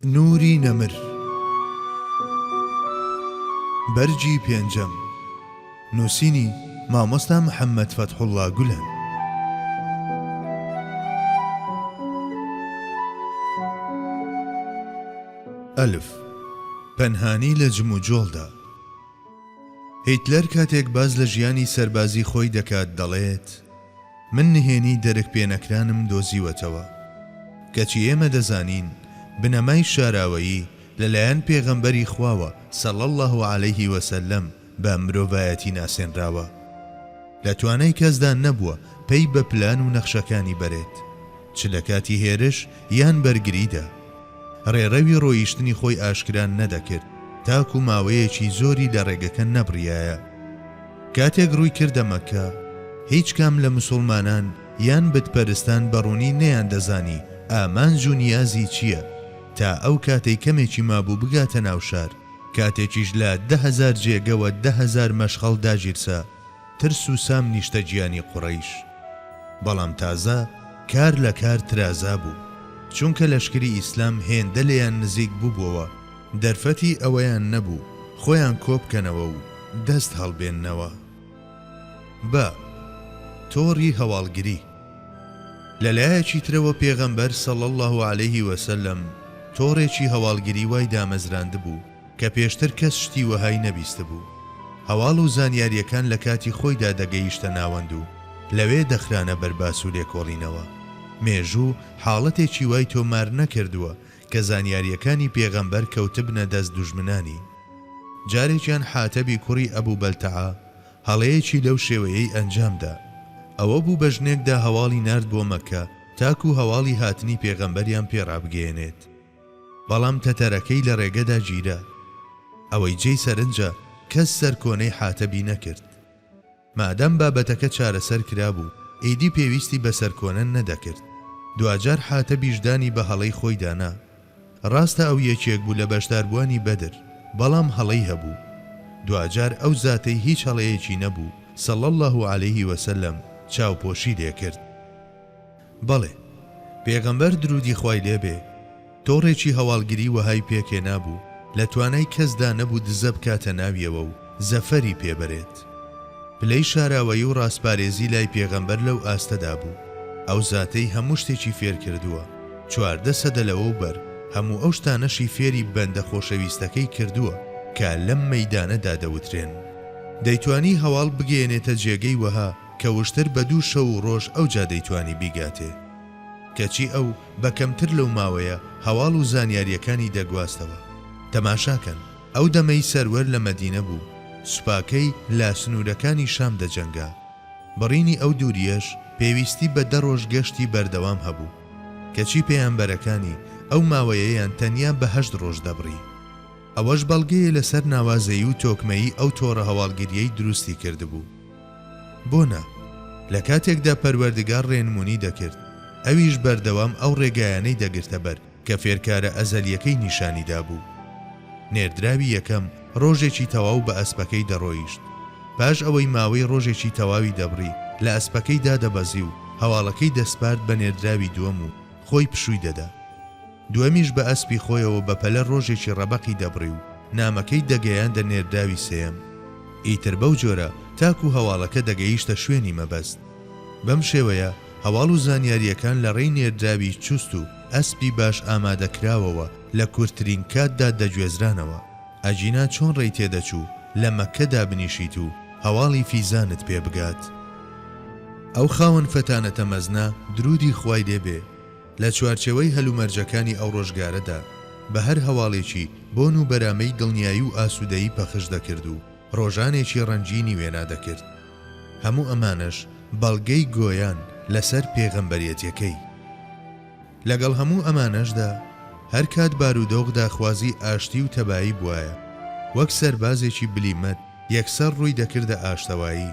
نوری نەمر بەرگی پێنجەم نووسینی مامۆستا محەممەد فەتحوڵا گولەن ئەلف پەنهانی لە جم و جۆڵدا هیتلەر کاتێک باز لە ژیانی سەربازی خۆی دەکات دەڵێت من نهێنی دەرک پێنەکرانم دۆزیوەتەوە. کەچی ئێمە دەزانین بنەمای شاراوەیی لە لایەن پێغەمبەری خواوە صلی اللە علیە وسلم بە مرۆڤایەتی ناسێنراوە. لە توانای کەسدا نەبووە پەی بە پلان و نەخشەکانی بەرێت، چ لە کاتی هێرش یان بەرگریدا. ڕێڕەوی ڕۆیشتنی خۆی ئاشکرا نەدەکرد تاکو ماوەیەکی زۆری لە ڕێگەکە نەبڕیایە. کاتێک ڕووی کردە مەککە، هیچ کام لە مسوڵمانان یان بتپەرستان بە ڕوونی نەیاندەزانی ئامانج و نیازی چییە، تا ئەو کاتەی کەمێکی مابوو بگاتە ناو شار، کاتێکیش لە دە هەزار جێگە و دە هەزار مەشخەڵ داگیرسا، ترس و سام نیشتەجیانی قوڕەیش بەڵام تازە کار لە کار ترازا بوو چونکە لەشکری ئیسلام هێندە لێیان نزیک بوبوەوە دەرفەتی ئەوەیان نەبوو خۆیان کۆبکەنەوە و دەست هەڵبێننەوە بە تۆڕی هەواڵگری. لە لایەکی ترەوە پێغەمبەر، صلی اللە علیه وسلم، تۆڕێکی هەواڵگری وای دامەزراندبوو، کە پێشتر کەس شتی وەهای نەبیستبوو. هەواڵ و زانیارییەکان لە کاتی خۆیدا دەگەیشتە ناوەند و لەوێ دەخرانە بەر باس و لێکۆڵینەوە. مێژوو حاڵەتێکی وای تۆمار نەکردووە کە زانیارییەکانی پێغەمبەر کەوتبنە دەست دوژمنانی. جارێکیان حاتەبی کوڕی ئەبو بەلتەعە هەڵەیەکی لەو شێوەیەی ئەنجام دا. ئەوە بوو بە ژنێکدا هەواڵی نارد بۆ مەککە تاکوو هەواڵی هاتنی پێغەمبەریان پێ ڕابگەیەنێت. بەڵام تەتەرەکەی لە رێگەدا گیرا. ئەوەی جێی سەرنجە کەس سەرکۆنەی حاتەبی نەکرد. مادام بابەتەکە چارەسەر کرابوو، ئیدی پێویستی بە سەرکۆنە نەدەکرد. دواجار حاتەبیش دانی بە هەڵەی خۆیدا نا. راستە ئەو یەکێک بوو لە بەشداربووانی بەدر، بەڵام هەڵەی هەبوو. دواجار ئەو زاتەی هیچ هەڵەیەکی نەبوو، صلی اللە علیه و سلم، چاوپۆشی لێکرد. بەڵێ، پێغەمبەر، درودی خوای لێ بێ، تۆڕێکی هەواڵگری وەهای پێک هێنابوو لە توانای کەسدا نەبوو دزە بکاتە ناویەوە و زەفەری پێ بەرێت. پلەی شاراوەیی و ڕاستپارێزی لای پێغەمبەر لەو ئاستەدا بوو، ئەو زاتەی هەموو شتێکی فێر کردووە، چواردە سەدە لەوەو بەر هەموو ئەو شتانەشی فێری بەندە خۆشەویستەکەی کردووە کە لەم مەیدانەدا دەوترێن. دەیتوانی هەواڵ بگەیەنێتە جێگەی وەها کە وشتر بە دوو شەو و ڕۆژ ئەوجا دەیتوانی بیگاتێ. کەچی ئەو بە کەمتر لەو ماوەیە هەواڵ و زانیارییەکانی دەگواستەوە. تەماشا کەن، ئەو دەمەی سەروەر لە مەدینە بوو، سوپاکەی لە سنوورەکانی شام دەجەنگا. بڕینی ئەو دوورییەش پێویستی بە دە ڕۆژ گەشتی بەردەوام هەبوو. کەچی پێیامبەرەکانی ئەو ماوەیەیان تەنیا بە هەشت ڕۆژ دەبڕی. ئەوەش بەڵگەیە لەسەر ناوازەیی و تۆکمەیی ئەو تۆڕە هەواڵگرییەی دروستی کردبوو. بۆ نا؟ لە کاتێکدا پەروەردگار ڕێنمونی دەکرد، ئەویش بەردەوام ئەو ڕێگایانەی دەگرتە بەر کە فێرکارە ئەزەلیەکەی نیشانی دابوو. نێردراوی یەکەم ڕۆژێکی تەواو بە ئەسپەکەی دەڕۆیشت. پاش ئەوەی ماوەی ڕۆژێکی تەواوی دەبڕی لە ئەسپەکەی دادەبەزی و هەواڵەکەی دەسپارد بە نێردراوی دووەم و خۆی پشووی دەدا. دووەمیش بە ئەسپی خۆیەوە بە پەلە ڕۆژێکی ڕەبەقی دەبڕی و نامەکەی دەگەیاندە نێردراوی سێیەم. ئیتر بەو جۆرە تاکوو هەواڵەکە دەگەیشتە شوێنی مەبەست. بەم شێوەیە هەواڵ و زانیارییەکان لە ڕێی نێردراوی چوست و ئەسپی باش ئامادەکراوەوە لە کورتترین کاتدا دەگوێزرانەوە. ئەگینا چۆن ڕێی تێ دەچوو لە مەککە دابنیشیت و هەواڵی فیزانت پێ بگات؟ ئەو خاوەن فەتانەتە مەزنە، دروودی خوای لێ بێ، لە چوارچێوەی هەلومەرجەکانی ئەو ڕۆژگارەدا بە هەر هەواڵێکی بۆن و بەرامەی دڵنیایی و ئاسوودەیی پەخش دەکرد و ڕۆژانێکی ڕەنگینی وێنا دەکرد. هەموو ئەمانەش بەڵگەی گۆیان لەسەر پێغەمبەرێتیەکەی. لەگەڵ هەموو ئەمانەشدا هەر کات بارودۆخ داخوازی ئاشتی و تەبایی بوایە، وەک سەربازێکی بلیمەت یەکسەر ڕووی دەکردە ئاشتەوایی.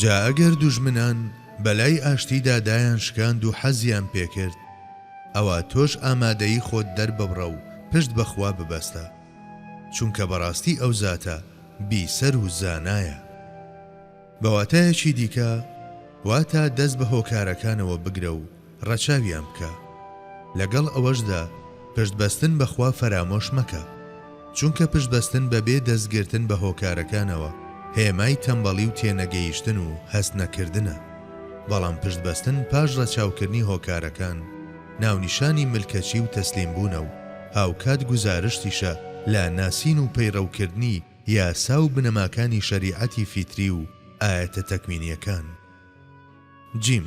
جا ئەگەر دوژمنان بەلای ئاشتیدا دایان شکاند و حەزیان پێکرد ئەوا تۆش ئامادەیی خۆت دەرببڕە و پشت بە خوا ببەستە چونکە بەڕاستی ئەو زاتە بیسەر و زانایە. بەواتایەکی دیکە واتا دەست بە هۆکارەکانەوە بگرە و ڕەچاویان بکە. لەگەڵ ئەوەشدا پشت بەستن بە خوا فەرامۆش مەکە. چونکە پشت بەستن بە بێ دەست گرتن بە هۆکارەکانەوە هێمای تەمبەڵی و تێنەگەیشتن و هەست نەکردنە. بەڵام پشت بەستن پاش ڕەچاو کردنی هۆکارەکان ناونیشانی ملکەچی و تەسلیم بوونە و هاوکات گوزارشتیشە لە ناسین و پەیڕەو کردنی یاسا و بنەماکانی شەریعەتی فیتری و ئایەتە تەکوینیەکان. جیم.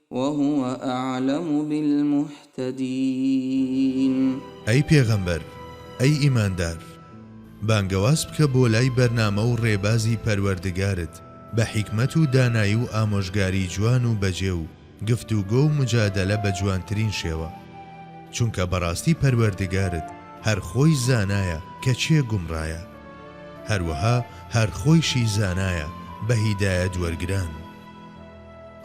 وهو اعلم بالمهتدین. ئەی پێغەمبەر، ئەی ئیماندار، بانگەواز بکە بۆ لای بەرنامە و ڕێبازی پەروەردگارت بە حیکمەت و دانایی و ئامۆژگاری جوان و بەجێ و گفتوگۆ و مجادەلە بە جوانترین شێوە، چونکە بەڕاستی پەروەردگارت هەر خۆی زانایە کە کێ گومڕایە، هەروەها هەر خۆیشی زانایە بە هیدایەت وەرگران.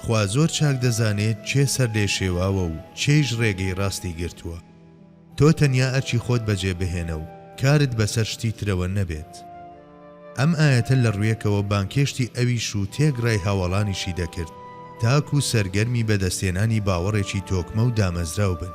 خوا زۆر چاک دەزانێت کێ سەرلێشێواوە و کێیش ڕێگەی ڕاستی گرتووە. تۆ تەنیا ئەرکی خۆت بەجێ بهێنە و کارت بەسەر شتی ترەوە نەبێت. ئەم ئایەتە لە ڕوویەکەوە بانگهێشتی ئەویش و تێکڕای هاوەڵانیشی دەکرد تاکوو سەرگەرمی بەدەستهێنانی باوەڕێکی تۆکمە و دامەزراو بن.